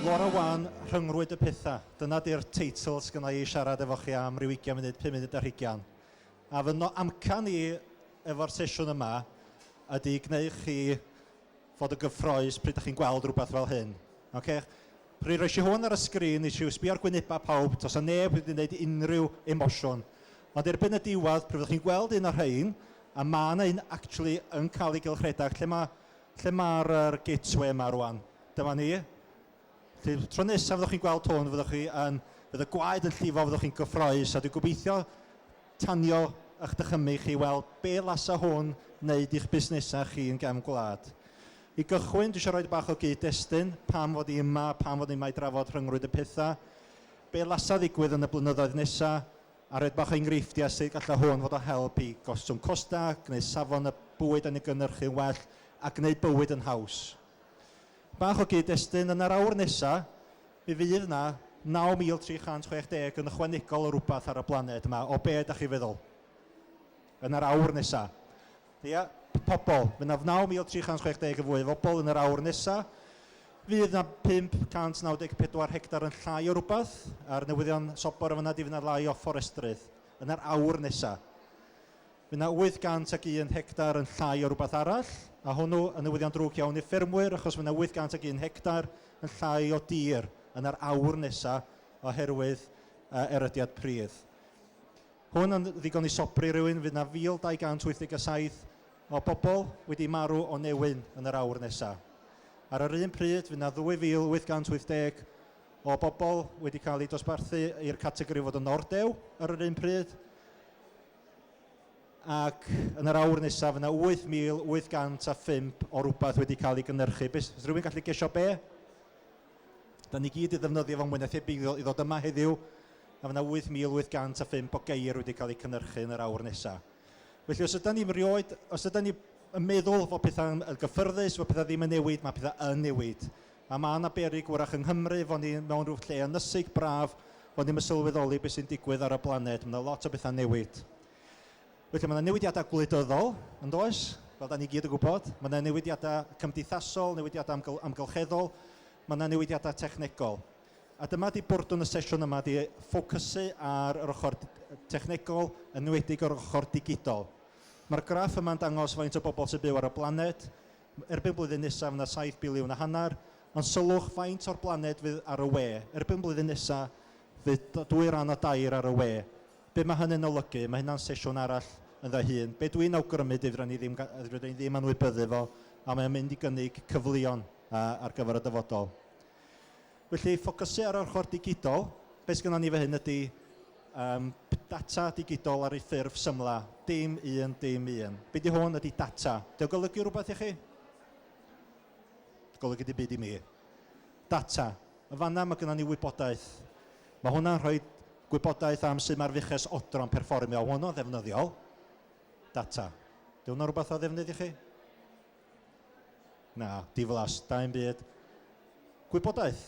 Laura Wan, Rhyngrwyd y Pethau, dyna di'r teitl sydd gynna i siarad efo chi am ryw 20 munud, 5 munud ar hugain. A fy no- amcan i efo'r sesiwn yma ydy gwneu chi fod yn gyffrous pryd dach chi'n gweld rhywbeth fel hyn. Ocê? Pryd roes i hwn ar y sgrin, nes i sbio ar gwynebau pawb, does 'na neb wedi gwneud unrhyw emosiwn. Ond erbyn y diwedd, pryd fyddwch chi'n gweld un o'r rhain, a ma' 'na un actually yn cael ei gylchredeg, lle ma', lle ma'r yr gateway yma rŵan? Dyma ni. Felly, tro nesaf fyddwch chi'n gweld hwn, fyddwch chi yn... fydd y gwaed yn llifo, fyddwch chi'n gyffroes, a dwi'n gobeithio tanio eich dychymyg chi i weld be lasa hwn wneud i'ch busnesau chi yn gefn gwlad. I gychwyn, dwi eisiau rhoi bach o gyd-destun, pam fod i yma, pam fod i yma i drafod rhyngrwyd y pethau, be lasa ddigwydd yn y blynyddoedd nesaf, a rhoi bach o enghreifftiau sut gallai hwn fod o help i gostwng costau, gwneud safon y bwyd yn ei gynhyrchu'n well, a gwneud bywyd yn haws. Bach o gyd-destun, yn yr awr nesa, mi fydd 'na 9,360 yn ychwanegol o rwbath ar y blaned 'ma, o be' 'dach chi'n feddwl? Yn yr awr nesa. Ia, pobol, fydd 'na 9,360 yn fwy o fobol yn yr awr nesa. Fydd 'na 594 hectar yn llai o rwbath ar newyddion sobor yn fan'na, 'di fydd 'na lai o fforestrydd yn yr awr nesa. Mae 'na 801 hectar yn llai o rywbeth arall, a hwnnw yn newyddion drwg iawn i'r ffermwyr achos mae 'na 801 hectar yn llai o dir yn yr awr nesa oherwydd yy erydiad pridd. Hwn yn ddigon i sobri rywun, fydd 'na 1,287 o bobl wedi marw o newyn yn yr awr nesa. Ar yr un pryd, fydd 'na 2,880 o bobl wedi cael eu dosbarthu i'r categori fod yn ordew ar yr un pryd, ac yn yr awr nesaf fydd yna 8,805 o rywbeth wedi cael ei gynhyrchu. Beth, os rhywun gallu gesio be? Da ni gyd i ddefnyddio fo mwy na thebyg i ddod yma heddiw, a fydd yna 8,805 o geir wedi cael eu cynhyrchu yn yr awr nesaf. Felly os ydy ni'n rioed, os ydy ni yn meddwl fod pethau'n gyffyrddus, fod pethau ddim yn newid, mae pethau yn newid. A ma' 'na berig wrach yng Nghymru fo' ni mewn rhyw lle ynysig braf, fo' ni'm yn sylweddoli be' sy'n digwydd ar y blaned, ma' 'na lot o betha'n newid. Felly ma' 'na newidiadau gwleidyddol, yn does? Fel 'dan ni gyd yn gwybod. Ma' 'na newidiadau cymdeithasol, newidiadau amgl- amgylcheddol, ma' 'na newidiadau technegol. A dyma 'di bwrdwn y sesiwn yma 'di ffocysu ar yr ochr technegol, yn enwedig yr ochr digidol. Ma'r graff yma'n dangos faint o bobl sy'n byw ar y blaned, Erbyn blwyddyn nesa fy na saith biliwn a hanner, ond sylwch faint o'r blaned fydd ar y we. Erbyn blwyddyn nesa fydd dwy ran o dair ar y we. Be mae hynny'n olygu? Mae hynna'n sesiwn arall ynddo ei hun. Be dwi'n awgrymu ydy fydda ni ddim fydda ni ddim anwybyddu fo a mae o'n mynd i gynnig cyfleon ar gyfer y dyfodol. Felly, ffocysu ar yr ochr digidol, be sy gynnon ni fan hyn ydy yym data digidol ar ei ffurf symlau, dim un, dim un. Be di hwn ydy data. Di o'n golygu rhywbeth i chi? Golygu dim byd i mi. Data. Yn fanna mae gynnon ni wybodaeth. Mae hwnna'n rhoi gwybodaeth am sut mae'r fuches odro'n perfformio. Hwnnw'n ddefnyddiol. Data. Di hwnna'n rhywbeth o ddefnydd i chi? Na, diflas, da i'm byd. Gwybodaeth.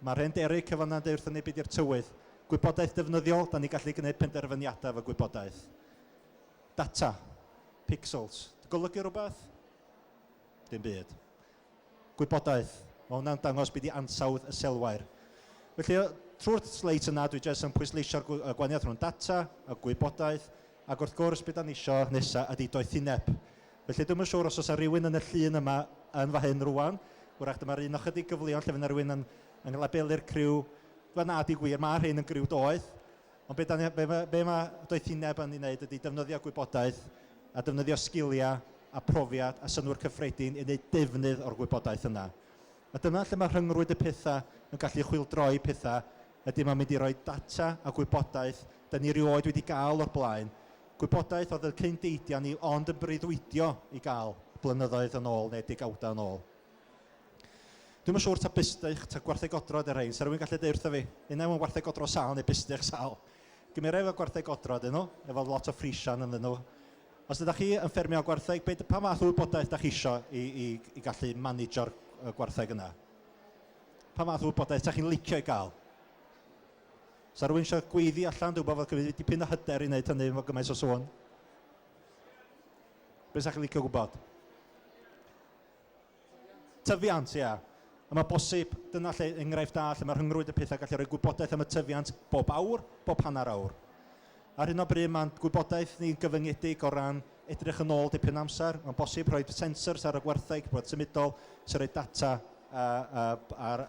Mae'r hen Derek yn fan'na yn deud wrthon ni be 'di'r tywydd. Gwybodaeth defnyddiol, da ni'n gallu gwneud penderfyniadau efo gwybodaeth. Data. Pixels. Di golygu rhywbeth? Dim byd. Gwybodaeth. Mae hwnna'n dangos be 'di ansawdd y selwair. Felly, trwy'r sleits yna, dwi jyst yn pwysleisio'r gwaniaeth rhwng data a gwybodaeth, Ac wrth gwrs be dan ni isio nesa ydi doethineb. Felly dwi'm yn siŵr os oes 'na rywun yn y llun yma yn fan hyn rŵan, wrach dyma'r un o chydig gyfleon lle fydd 'na rywun yn yn yn labelu'r criw, wel na, deud gwir, ma' rhein yn griw doeth, ond be dan ni be ma' be ma' doethineb yn ei wneud ydi defnyddio gwybodaeth a defnyddio sgiliau a profiad a synnwyr cyffredin i wneud defnydd o'r gwybodaeth yna. A dyna lle mae rhyngrwyd y pethau yn gallu chwyldroi pethau, ydy mae'n mynd i roi data a gwybodaeth da ni rioed wedi gael o'r blaen, gwybodaeth oedd y cyn deidiau ni ond yn breuddwydio i gael blynyddoedd yn ôl neu degawdau yn ôl. Dwi'm yn siŵr ta busty'ch ta gwartheg odro ydy'r rhain, 'sa rhywun gallu deud wrtha fi, unai mae'n wartheg odro sâl neu busty'ch sâl? Gymera efo gwartheg odro ydyn nhw, efo lot o friesian ynddyn nhw. Os ydych chi yn ffermio gwartheg, be, pa fath o wybodaeth ydych chi isio i, i, i gallu managio'r gwartheg yna? Pa fath o wybodaeth ydych chi'n licio i gael? Sa rhywun eisiau gweiddi allan, dwi'n gwybod fod gyda dipyn o hyder i wneud hynny efo gymaint o sôn. Be sa chi'n licio gwybod? Tyfiant, ie. A mae bosib, dyna lle, enghraifft da lle mae rhyngrwyd y pethau gallu rhoi gwybodaeth am y tyfiant bob awr, bob hanner awr. Ar hyn o bryd mae'n gwybodaeth ni'n gyfyngedig o ran edrych yn ôl dipyn amser. Mae'n bosib rhoi sensors ar y gwartheg, bod symudol, sy'n rhoi data a, a, ar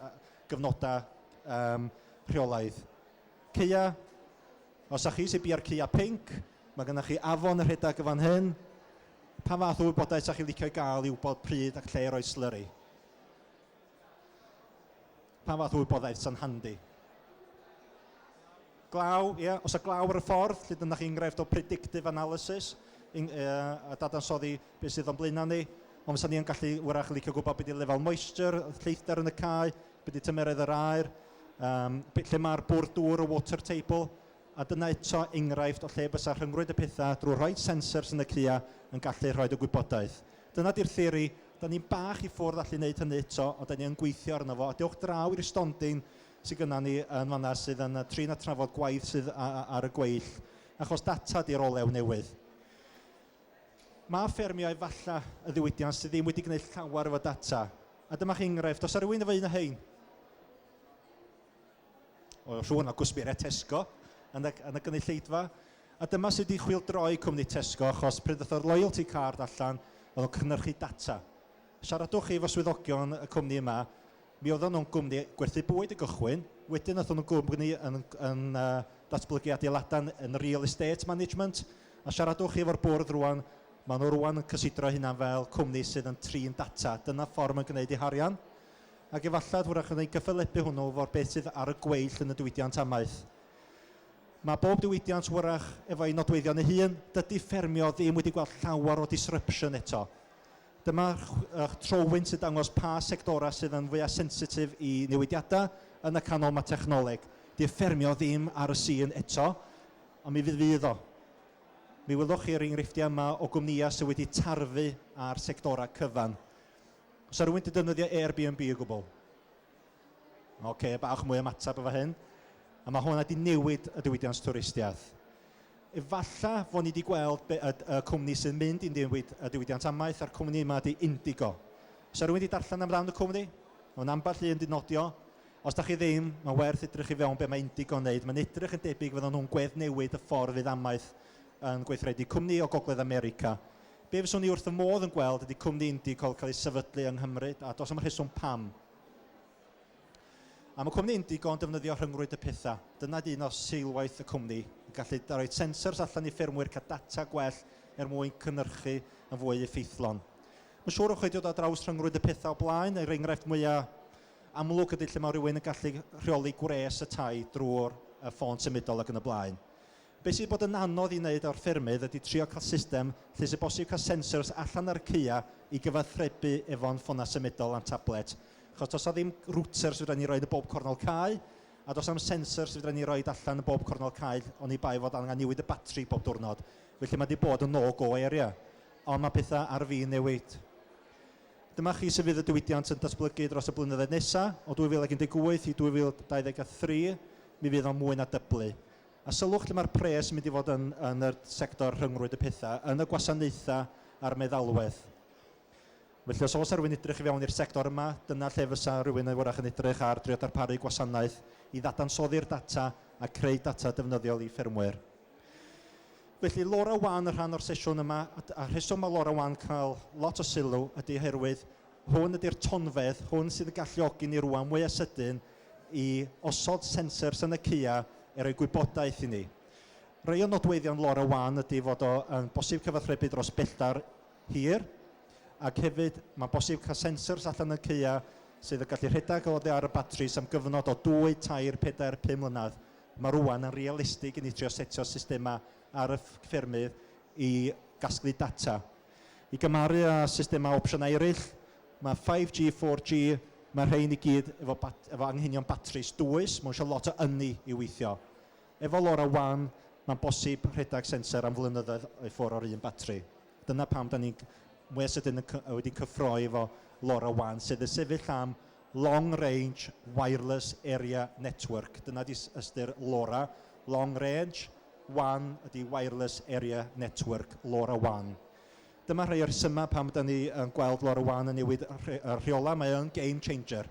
gyfnodau um, rheolaidd. Ceia, os â chi sy'n bia'r ceia pink, mae gennych chi afon y rhedeg y fan hyn, Pa fath o wybodaeth 'sa chi'n licio ei gael i wybod pryd ac lle i roi slyri? Pa fath o wybodaeth sa'n handi? Glaw, ie. Yeah. Os y glaw ar y ffordd, lle dyna chi enghraifft o predictive analysis, in, uh, a dadansoddi beth sydd o'n blaenau ni. Ond fysa ni yn gallu wrach licio gwybod beth ydy lefel moisture, lleithder yn y cae, beth ydy tymeredd yr aer, um, lle mae'r bwrdd dŵr, y water table, A dyna eto enghraifft o lle bysa rhyngrwyd y pethau drwy rhoi sensors yn y cua yn gallu rhoid y gwybodaeth. Dyna di'r theori. Da ni'n bach i ffwrdd allu neud hynny eto, ond da ni yn gweithio arno fo. A dewch draw i'r stondin sy gynna ni yn fanna sydd yn trin a trafod gwaith sydd ar y gweill, achos data di'r olew newydd. Mae ffermio efalla y ddiwydiant sydd ddim wedi gneud llawer efo data. A dyma chi enghraifft. Oes 'na rywun efo un o hein? o rhywun o gwsmeriaid Tesco yn y, yn y gynulleidfa. A dyma sydd wedi chwildroi cwmni Tesco achos pryd ddoth yr loyalty card allan oedd o'n cynhyrchu data. Siaradwch efo swyddogion y cwmni yma, mi oedden nhw'n gwmni gwerthu bwyd y gychwyn, wedyn oedd nhw'n gwmni yn, yn uh, datblygu adeiladau yn real estate management, a siaradwch chi efo'r bwrdd rwan, maen nhw rwan yn cysidro hynna fel cwmni sydd yn trin data. Dyna ffordd mae'n gwneud ei harian. ac efallad hwyrach yn eu cyffelybu hwnnw for beth sydd ar y gweill yn y diwydiant amaeth. Mae bob diwydiant hwyrach efo ei nodweddion ei hun, dydy ffermio ddim wedi gweld llawer o disruption eto. Dyma ych trowyn sy'n dangos pa sectorau sydd yn fwya sensitif i newidiadau, yn y canol mae technoleg. Dyw ffermio ddim ar y sîn eto, ond mi fydd fydd o. Mi welwch chi yr enghreifftiau yma o gwmnïau sydd wedi tarfu ar sectorau cyfan. Os rhywun wedi defnyddio Airbnb o gwbl? Oce, okay, bach mwy ymateb efo hyn. A mae hwnna wedi newid y diwydiant twristiaeth. Efalla fod ni wedi gweld y, y cwmni sy'n mynd i'n newid y diwydiant amaeth a'r cwmni yma ydy Indigo. Os rhywun wedi darllen am ran y cwmni? Mae'n ambell un wedi nodio. Os da chi ddim, mae'n werth edrych i fewn beth mae Indigo'n wneud. Mae'n edrych yn debyg fydden nhw'n gwedd newid y ffordd fydd amaeth yn gweithredu. Cwmni o Gogledd America Be fyswn i wrth fy modd yn gweld ydy cwmni Indycall cael ei sefydlu yng Nghymru, a does na'm rheswm pam. Am y cwmni Indygo yn defnyddio rhyngrwyd y pethau. Dyna ydy un o seilwaith y cwmni, y gallu i roi sensors allan i ffermwyr cael data gwell er mwyn cynhyrchu yn fwy effeithlon. Mae'n siŵr o'ch chi wedi dod ar draws rhyngrwyd y pethau o blaen, yr enghraifft mwya' amlwg ydy lle mae rhywun yn gallu rheoli gwres y tai drwy'r ffôn symudol ac yn y blaen. Be sydd bod yn anodd i wneud o'r ffermydd ydy trio cael system lle sydd bosib cael sensors allan ar y caeau i gyfathrebu efo'n ffonau symudol a'n tablet. Achos does 'na ddim routers fedra ni roid yn bob cornel cae, a does 'na'm sensors fedra ni roid allan yn bob cornel cae oni bai fod angen newid y batri bob diwrnod. Felly mae 'di bod yn no go area. Ond mae pethau ar fin newid. Dyma chi sut fydd y diwydiant yn datblygu dros y blynyddoedd nesaf. O 2018 i 2023 mi fydd o'n mwy na dyblu. A sylwch lle mae'r pres yn mynd i fod yn yn yr sector rhyngrwyd y pethau, yn y gwasanaethau a'r meddalwedd. Felly os oes rhywun edrych i fewn i'r sector yma, dyna lle fysa rhywun yn wrach yn edrych ar drio darparu gwasanaeth i ddadansoddi'r data a creu data defnyddiol i ffermwyr. Felly LoRaWAN yn rhan o'r sesiwn yma, a rheswm mae LoRaWAN cael lot o sylw ydy oherwydd Hwn ydy'r tonfedd, hwn sydd yn galluogi ni rŵan mwyaf sydyn i osod sensors yn y ceuau i roi gwybodaeth i ni. Rhai o nodweddion LoRaWAN ydy fod o yn bosib cyfathrebu dros belltar hir ac hefyd mae'n bosib cael sensors allan yn ceuau sydd yn gallu rhedeg oddi ar y batris am gyfnod o dwy, tair, pedair, pum mlynedd. Mae rŵan yn realistig i ni trio setio systemau ar y ffermydd i gasglu data. I gymaru â systemau opsiynau eraill, mae 5G, 4G, mae'r rhain i gyd efo bat- efo anghenion batris dwys, mae nhw eisiau lot o ynni i weithio. Efo LoRaWAN, mae'n bosib rhedeg sensor am flynyddoedd i ffwrdd o'r un batri. Dyna pam da ni'n mwya sydyn yn cy- wedi cyffroi efo LoRaWAN, sydd yn sefyll am Long Range Wireless Area Network. Dyna di ystyr LoRa, Long Range wan ydy Wireless Area Network, LoRa wan. Dyma rhai o'r rhesymau pam ydan ni yn gweld LoRa wan yn newid y rheolau, mae o'n game changer.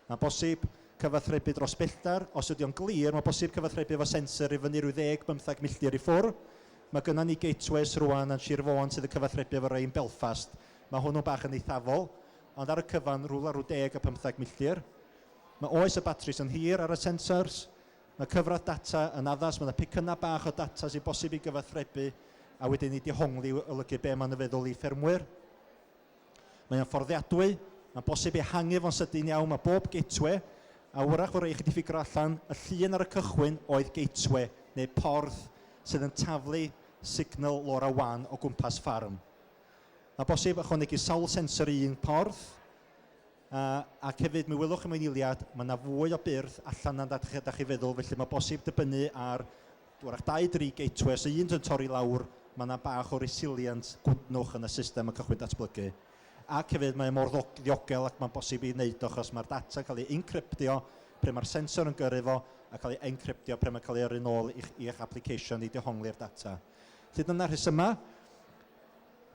Mae'n bosib cyfathrebu dros bellter, os ydy o'n glir, mae'n bosib cyfathrebu efo sensor i fyny rhyw ddeg, bymtheg milltir i ffwr. Mae gynnon ni gateways rwan yn Sir Fôn sydd yn cyfathrebu efo rhai yn Belfast. Mae hwnnw'n bach yn eithafol, ond ar y cyfan rywle rhyw deg a phymtheg milltir. Mae oes y batris yn hir ar y sensors, Mae cyfradd data yn addas, mae 'na pecynnau bach o data sy'n bosib ei gyfathrebu a wedyn ei dehongli i olygu be mae'n ei feddwl i ffermwyr. Mae o'n fforddiadwy, mae'n bosib ehangu fo'n sydyn iawn, mae bob gateway, a wrach fo rei chi 'di ffigro allan, y llun ar y cychwyn oedd gateway, neu porth, sydd yn taflu signal LoRa wan o gwmpas ffarm. Mae bosib ychwanegu sawl sensor i un porth, Yy ac hefyd mi welwch chi mewn eiliad ma' 'na fwy o byrth allan na dach chi dach chi feddwl felly ma' bosib dibynnu ar 'w'rach dau dri gateway os 'na un yn torri lawr ma' 'na bach o resilient gwydnwch yn y system yn cychwyn datblygu ac hefyd mae o mor ddo- ddiogel ac ma'n bosib i neud o achos ma'r data'n cael ei incryptio pryd ma'r sensor yn gyrru fo a cael ei encryptio pryd ma'n cael ei yrru nôl i'ch i'ch application i dehongli'r data. Felly dyna'r rhesymau.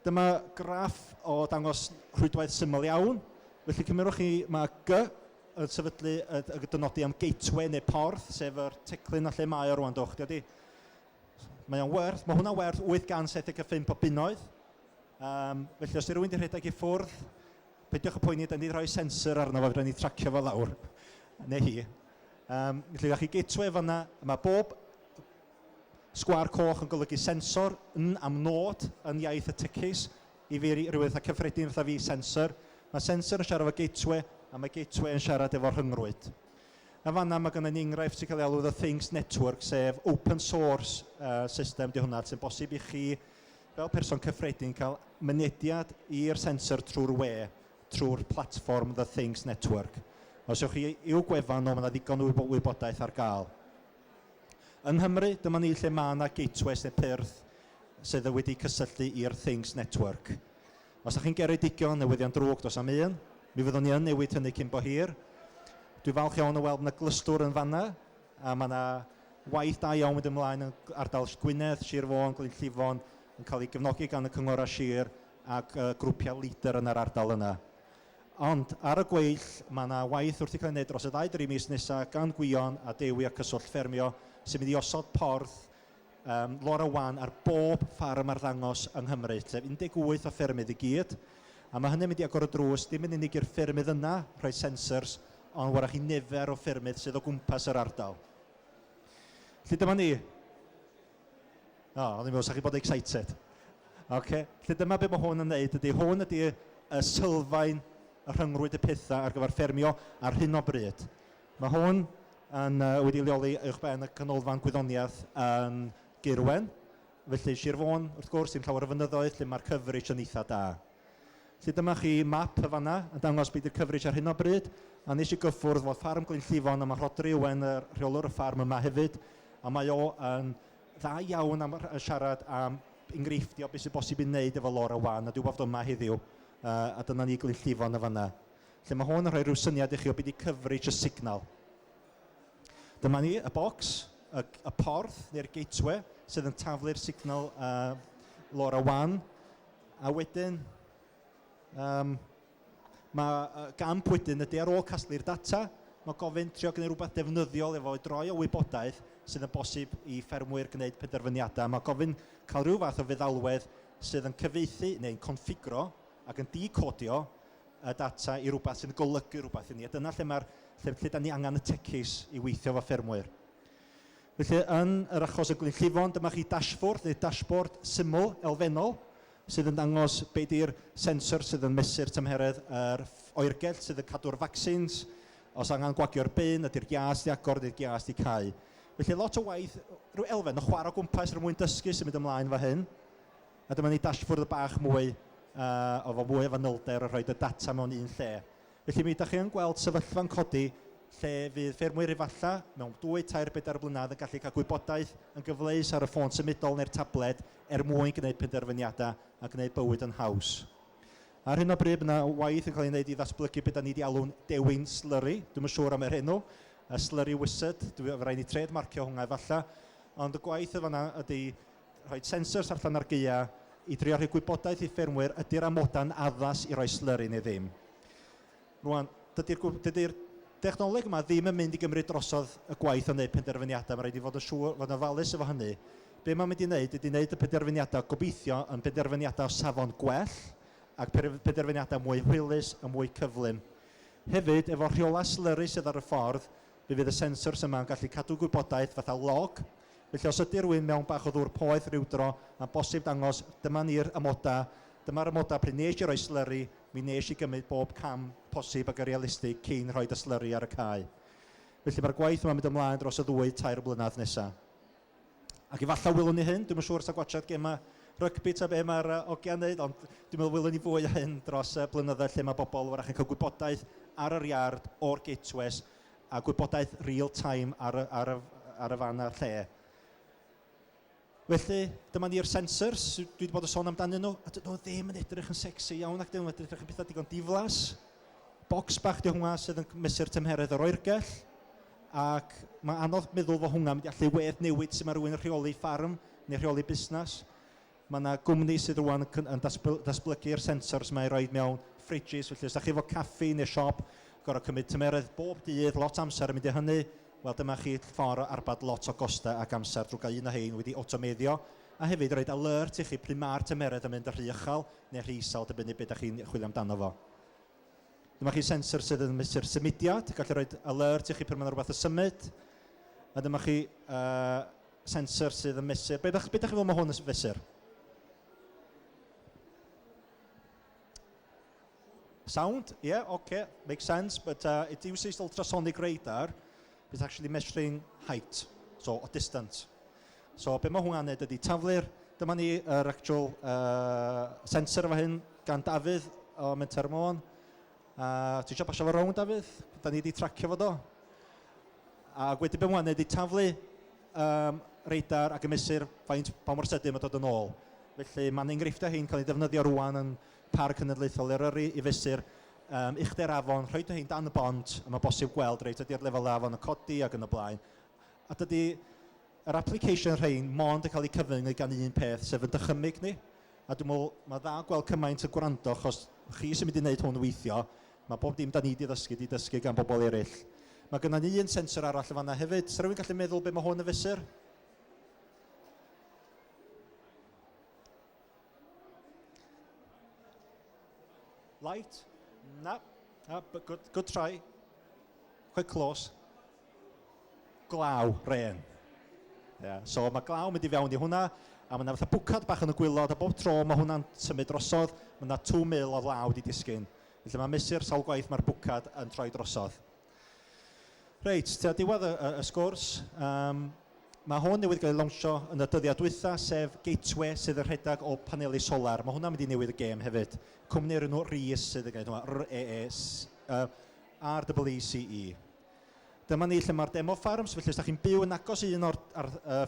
Dyma graff o ddangos rhwydwaith syml iawn. Felly cymerwch chi mae G yn sefydlu y y dynodi am gateway neu porth sef yr teclyn a lle mae o rŵan do chdi ydi. Mae o'n werth, mae hwnna'n werth 875 o bunnoedd. Yym felly os 'di rywun 'di rhedeg i ffwrdd peidiwch â phoeni dan ni 'di rhoi sensor arno fo fedra ni tracio fo lawr neu hi. Yym felly da chi gateway fan'na, mae bob Sgwâr coch yn golygu sensor, yn am nôd, yn iaith y tecis, i fi, rhywbeth eitha cyffredin fatha fi, sensor. Mae sensor yn siarad efo gateway, a mae gateway yn siarad efo rhyngrwyd. Yn fan'na mae gynna i enghraifft sy'n cael ei alw The Things Network, sef open source uh, system di hwnna, sy'n bosib i chi, fel person cyffredin, cael mynediad i'r sensor trwy'r we, trwy'r platform The Things Network. Os ywch chi i'w gwefan nhw, mae yna ddigon o wybodaeth ar gael. Yng Nghymru, dyma ni lle mae yna gateways neu pyrth sydd yn wedi cysylltu i'r Things Network. Os ydych chi'n geredigion, newyddion drwg dos am un, mi fyddwn ni yn newid hynny cyn bo hir. Dwi'n falch iawn o weld bod yna glystwr yn fanna, a mae yna waith da iawn mynd ymlaen yn ardal Gwynedd, Sir Fôn, Glyn Llifon, yn cael ei gefnogi gan y cynghorau sir ac grwpiau leader yn yr ardal yna. Ond, ar y gweill, mae yna waith wrth i cael ei wneud dros y ddau dri mis nesaf gan Gwion a Dewi a Cyswllt Ffermio sy'n mynd i osod porth um, Laura Wan ar bob ffarm arddangos yng Nghymru, sef 18 o ffermydd i gyd. A mae hynny'n mynd i agor y drws, dim yn unig i'r ffermydd yna rhoi sensors, ond warach i nifer o ffermydd sydd o gwmpas yr ardal. Felly dyma ni. O, oh, o'n i'n meddwl, sa'ch chi bod excited. Okay. Felly dyma beth mae hwn yn wneud ydy, hwn ydy y sylfaen y rhyngrwyd y pethau ar gyfer ffermio ar hyn o bryd. Mae hwn yn, uh, wedi leoli uwch ben y canolfan gwyddoniaeth yn Gyrwen. Felly Sir Fôn, wrth gwrs, sy'n llawer o fynyddoedd lle mae'r coverage yn eitha da. Felly dyma chi map yn fan'na yn dangos be 'di'r coverage ar hyn o bryd, a wnes i gyffwrdd efo Ffarm Glynllifon a ma' Rhodri Owen yr rheolwr y ffarm yma hefyd a mae o yn dda iawn am rh- siarad am enghreifftiau o be sy'n bosib ei wneud efo lora wan a dwi weld o yma heddiw yy a dyna ni Glynllifon yn fan'na. Felly ma' hwn yn rhoi rhyw syniad i chi o be 'di coverage y signal. Dyma ni, y bocs, y g- y porth neu'r gateway sydd yn taflu'r signal yy lora wan. A wedyn, yym, mae y gamp wedyn ydy ar ôl casglu'r data, mae gofyn trio gwneud rhywbeth defnyddiol efo fo, droi o wybodaeth sydd yn bosib i ffermwyr gwneud penderfyniadau. Mae gofyn cael rhyw fath o feddalwedd sydd yn cyfieithu neu'n configro ac yn de-codio y data i rywbeth sy'n golygu rhywbeth i ni. A dyna lle, mae'r, lle, lle da ni angen y techies i weithio efo ffermwyr. Felly, yn yr achos o Glyn Llifon, dyma chi dashfwrdd neu dashboard syml elfennol sydd yn dangos be di'r sensors sydd yn mesur tymheredd yr oergell sydd yn cadw'r vaccines, os angen gwagio'r bin, ydi'r giât 'di agor, ydi'r giât 'di cau. Felly, lot o waith, rhyw elfen o chwarae o gwmpas er mwyn dysgu symud ymlaen efo hyn. A dyma ni dashfwrdd bach mwy, efo fwy o fanylder yn rhoid y data mewn un lle. Felly, mi ydach chi yn gweld sefyllfa'n codi lle fydd ffermwyr efallai mewn dwy, tair, bedair blynedd yn gallu cael gwybodaeth yn gyfleus ar y ffôn symudol neu'r tabled er mwyn gwneud penderfyniadau a gwneud bywyd yn haws. Ar hyn o bryd, mae yna waith yn cael ei wneud i ddatblygu be da ni wedi alw'n dewin slurry, dwi'm yn siŵr am yr enw, y slurry wizard, dwi, fe rai' ni trêd-marcio hwnna efallai, ond y gwaith yn fan'na ydy Rhoi sensors allan ar gaeau i drio rhoi gwybodaeth i ffermwyr ydy'r amodau'n addas i roi slyri neu ddim. Rwan, dydy'r dydy dechnoleg yma ddim yn mynd i gymryd drosodd y gwaith o wneud penderfyniadau, mae rhaid i fod yn siŵr, fod yn ofalus efo hynny. Be mae'n mynd i wneud ydy wneud y penderfyniadau gobeithio yn benderfyniadau o safon gwell ac penderfyniadau mwy hwylus a mwy cyflym. Hefyd, efo rheolau slyri sydd ar y ffordd, fe fydd y sensors yma yn gallu cadw gwybodaeth fatha log Felly os ydy rhywun mewn bach o ddŵr poeth ryw dro, mae'n bosib dangos, dyma ni'r amodau, dyma'r amodau pryd wnes i roi slurry, mi wnes i gymryd bob cam posib ag yn realistig cyn rhoi y slurry ar y cae. Felly mae'r gwaith yma'n mynd ymlaen dros y ddwy, tair blynedd nesaf. Ac efallai wylwn ni hyn, dwi'm yn siŵr os da gwachod gemau rygbi ta be mae'r ogiau'n wneud, ond dwi'n meddwl wylwn ni fwy o hyn dros y blynyddoedd lle mae bobl wrach yn cael gwybodaeth ar yr iard o'r gateways a gwybodaeth real time ar y, ar y, ar y fan a'r lle. Felly, dyma ni'r sensors, dwi wedi bod yn sôn amdanyn nhw, a dyn nhw ddim yn edrych yn sexy iawn ac dyn nhw'n edrych yn pethau digon diflas. Bocs bach di hwnna sydd yn mesur tymheredd yr oergell, ac mae anodd meddwl fod hwnna'n mynd i allu wedd newid sut mae rhywun yn rheoli ffarm neu rheoli busnes. Mae 'na gwmni sydd rŵan yn datblygu'r sensors 'ma i roid mewn fridges, felly os dach chi efo caffi neu siop, gorfod cymryd tymeredd bob dydd, lot o amser yn mynd i hynny, wel dyma chi ffordd o arbad lot o gostau ac amser drwy gael un o hein wedi awtomeiddio, a hefyd roid alert i chi pryd ma'r tymeredd yn mynd yn rhy uchel neu rhy isel, dibynnu be dach chi'n chwilio amdano fo. Dyma chi sensor sydd yn mesur symudiad, gallu roid alert i chi pryd mae 'na rwbath yn symud, a dyma chi yy sensor sydd yn mesur. Be ydych chi'n feddwl mae hwn yn fesur? Sound, yeah, okay, makes sense, but uh, it uses ultrasonic radar, it's actually measuring height, so a distance. So be mae hwnna'n neud ydy taflu'r, dyma ni yr er actual uh, sensor efo hyn gan Dafydd o Menter Môn, A ti eisiau pasio fo rownd Dafydd? Da ni wedi tracio fo do? A wedyn be mae'n gwneud ydy taflu um, radar ac yn mesur faint pa mor sydyn mae'n dod yn ôl. Felly mae'n enghreifftiau hyn cael ei defnyddio rwan yn Parc Cenedlaethol Eryri i fesur um, uchder afon, rhoi dy hyn dan y bont, a mae bosib gweld reit ydy'r lefelau afon yn codi ac yn y blaen. A dydy yr application rhein mond yn cael eu cyfyngu gan un peth, sef yn dychymyg ni. A dwi'n meddwl, mae dda gweld cymaint yn gwrando, achos chi sy'n mynd i wneud hwn weithio, mae bob dim da ni wedi ddysgu, wedi dysgu gan bobl eraill. Mae gennym ni un sensor arall yn fanna hefyd. Sa rhywun gallu meddwl beth mae hwn yn fesur? Light? Na. Ah, good, good try. Quite close. Glaw, rên. Ia, so mae glaw yn mynd i fewn i hwnna, a mae yna fatha bwcad bach yn y gwylod, a bob tro mae hwnna'n symud drosodd, mae yna 2,000 o law wedi disgyn. Felly mae'n mesur sawl gwaith mae'r bwcad yn troi drosodd. Reit, tua diwedd y, y, y sgwrs, um, mae hwn newydd gael ei lawnsio yn y dyddiau dwytha, sef Gateway sydd yn rhedeg o paneli solar. Mae hwnna'n mynd i newid y gêm hefyd. Cwmni o'r enw Rees sydd yn gwneud hwnna, R-E-E-S, uh, R-E-E-C-E. Dyma ni lle mae'r demo ffarms, felly os da chi'n byw yn agos i un o'r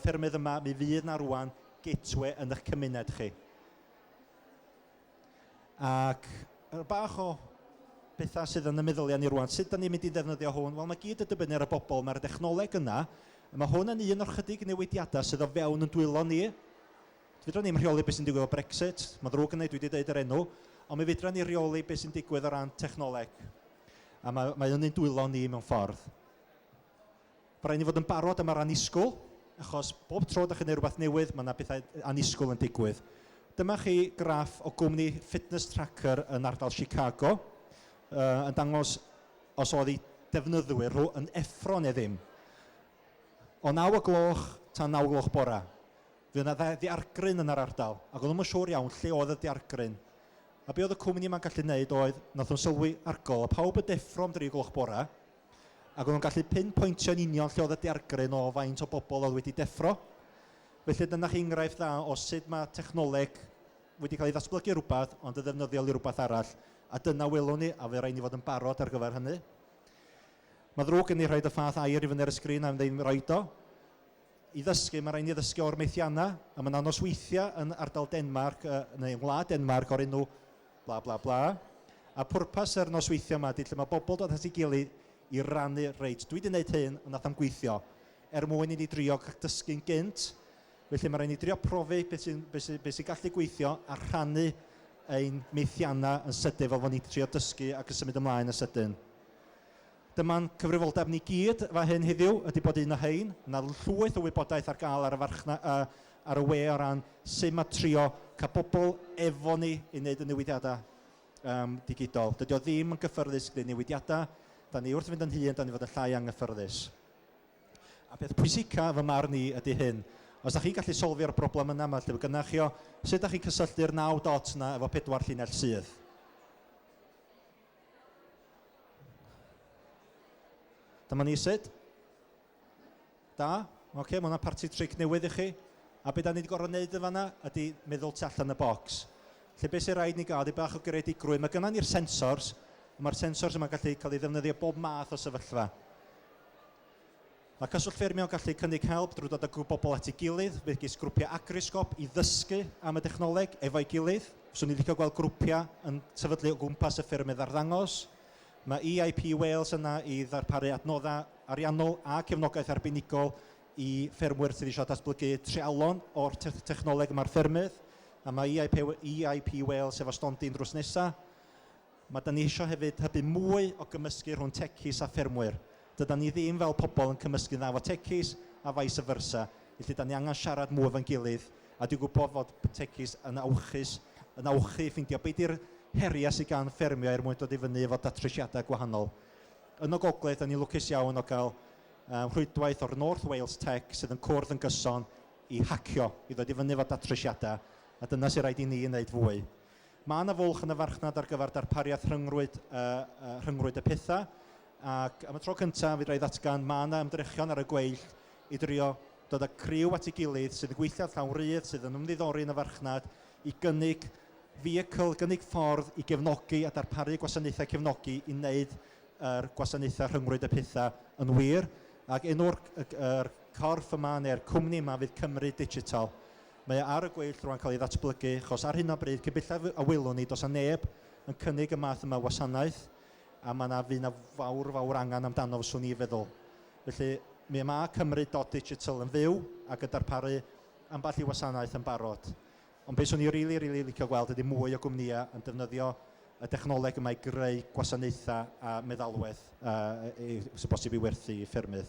ffermydd yma, mi fydd na rwan gateway yn eich cymuned chi. Ac er bach o bethau sydd yn y meddyliau ni rwan, sut da ni'n mynd i ddefnyddio hwn? Wel, mae gyd yn dibynnu ar y bobl, mae'r dechnoleg yna, mae hwn yn un o'r chydig newidiadau sydd o fewn yn dwylo ni. Fydra ni'n rheoli beth sy'n digwydd o Brexit, mae'n ddrwg yn ei dwi wedi dweud yr enw, ond mi fydra ni reoli beth sy'n digwydd o ran technoleg. A mae, mae hynny'n dwylo ni mewn ffordd. Mae rhaid ni fod yn barod am yr annisgwyl, achos bob tro da chi'n gwneud rhywbeth newydd, mae yna bethau annisgwyl yn digwydd. Dyma chi graff o gwmni fitness tracker yn ardal Chicago uh, yn dangos os oedd ei defnyddwyr nhw yn effro neu ddim. O 9 o gloch tan 9 o gloch bora. Fu yna dde ddiargryn yn yr ardal ac oeddwn yn siŵr iawn lle oedd y diargryn. A be oedd y cwmni yma'n gallu neud oedd, nath nhw'n sylwi argol o pawb yn deffro am dri gloch bore, ac oeddwn gallu pin pointio yn union lle oedd y diargryn o faint o bobl oedd wedi deffro. Felly dyna chi enghraifft dda o sud mae technoleg wedi cael ei ddatblygu i rywbeth ond yn ddefnyddiol i rywbeth arall, a dyna welwn ni, a fe rhaid ni fod yn barod ar gyfer hynny. Mae'n ddrwg gen i rhaid y fath air i fyny ar y sgrin a ddim roid o. I ddysgu, mae'n rhaid i ni ddysgu o'r methiannau, a mae yna nosweithiau yn ardal Denmarc, uh, neu yng ngwlad Denmarc, o'r enw bla bla bla. A pwrpas yr nosweithiau yma ydy lle mae bobl dod at ei gilydd i rannu, reit, dwi wedi gwneud hyn, ond nath am gweithio, er mwyn i ni drio dysgu'n gynt, felly mae'n rhaid ni drio profi beth sy'n be sy, be sy gallu gweithio a rhannu ein methiannau yn sydyn fel bod ni'n trio dysgu ac yn symud ymlaen yn sydyn. Dyma'n cyfrifoldeb ni gyd fan hyn heddiw ydy bod un o rhein, na llwyth o wybodaeth ar gael ar y farchna- yy ar y we o ran sut mae trio cael pobl efo ni i wneud y newidiadau yym digidol. Dydy o ddim yn gyffyrddus gwneud newidiadau, dan ni wrth fynd yn hŷn, dan ni'n fod yn llai anghyffyrddus. A peth pwysica fy marn i ydy hyn, os da chi'n gallu solfio'r broblem yna ma' lle fo gynna chi o, sut da chi'n cysylltu'r naw dot yna efo pedwar llinell sydd? Dyma ni sut. Da. Oce, okay, mae yna parti tric newydd i chi. A beth da ni wedi gorfod wneud yn fanna ydy meddwl tu allan y bocs. Lle beth sy'n rhaid ni gael ydy bach o greadigrwydd. Mae gynnon ni'r sensors, mae'r sensors yma'n gallu cael ei ddefnyddio bob math o sefyllfa. Mae Cyswllt Ffermio yn gallu cynnig help drwy ddod â grŵp bobl at ei gilydd, megis grwpiau agrosgop, i ddysgu am y dechnoleg efo'i gilydd. Fyswn i'n licio gweld grwpiau yn sefydlu o gwmpas y ffermydd arddangos. Mae EIP Wales yna i ddarparu adnoddau ariannol a cefnogaeth arbenigol i ffermwyr sydd eisiau datblygu treialon o'r technoleg yma ar ffermydd, a mae EIP Wales efo stondin drws nesaf. Mae 'da ni isio hefyd hybu mwy o gymysgu rhwng techies a ffermwyr. Dydan ni ddim fel pobl yn cymysgu'n dda efo techies a vice versa, felly 'da ni angen siarad mwy efo'n gilydd a dwi'n gwybod fod techies yn awchus yn awchu i ffeindio be 'di'r heriau sydd gan ffermio er mwyn dod i fyny efo datrysiadau gwahanol. Yn y Gogledd 'da ni'n lwcus iawn o gael yy rhwydwaith o'r North Wales Tech sydd yn cwrdd yn gyson i hacio, i ddod i fyny efo datrysiadau a dyna sydd raid i ni wneud fwy. Mae yna fwlch yn y farchnad ar gyfer darpariaeth rhyngrwyd, rhyngrwyd y pethau, ac am y tro cyntaf, fedra i ddatgan, mae yna ymdrechion ar y gweill i drio dod â criw at ei gilydd sydd yn gweithio llawn rydd, sydd yn ymddiddori yn y farchnad, i gynnig vehicle, gynnig ffordd i gefnogi a darparu gwasanaethau cefnogi i wneud yr gwasanaethau rhyngrwyd y pethau yn wir, ac enw'r corff yma neu'r cwmni yma fydd Cymru Digital. Mae o ar y gweill rwan cael ei ddatblygu achos ar hyn o bryd cybellaf a welwn ni does na neb yn cynnig y math yma o wasanaeth a mae na fydd na fawr fawr angen amdano fyswn i feddwl. Felly mi ma Cymru dot digital yn fyw ac yn darparu ambell i wasanaeth yn barod ond be swn i rili rili licio gweld ydi mwy o gwmnïa yn defnyddio y dechnoleg yma i greu gwasanaethau a meddalwedd yy i- sy'n bosib i werthu i ffermydd.